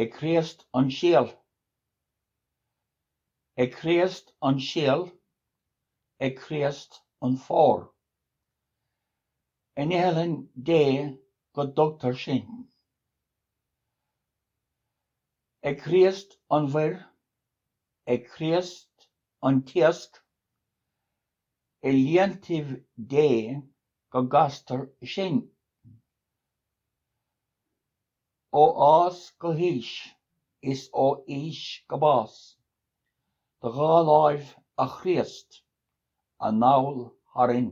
Ag Críost an Síol Ag Críost an síol Ag Críost an fómhar In iothlainn Dé go dtugtar sinn Ag Críost an mhuir Ag Críost an t-iasc I líontaibh Dé go gcastar sinn Ó fhás go haois is ó aois go bás, do dhá láimh, a Chríost, anall tharainn.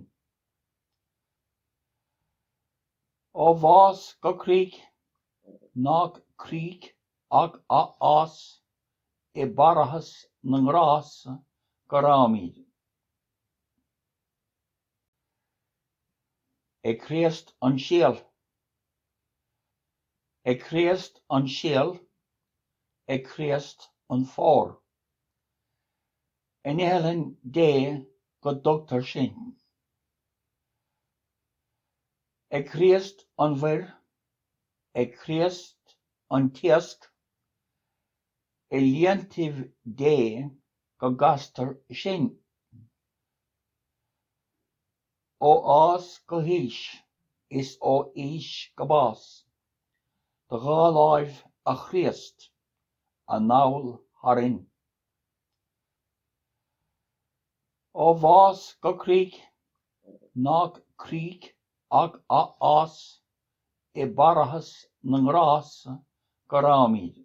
Ó bhás go críoch, nach críoch ach athfhás, i bParthas na nGrást go rabhaimid. Ag Críost an síol. Ag Críost an síol Ag Críost an fómhar. In iothlainn Dé go dtugtar sinn. Ag Críost an mhuir Ag Críost an t-iasc I líontaibh Dé go gcastar sinn. Ó fhás go haois is ó aois go bás, do dhá láimh, a Chríost, anall tharainn. Ó bhás go críoch, nach críoch ach athfhás, i bParthas na nGrást go rabhaimid.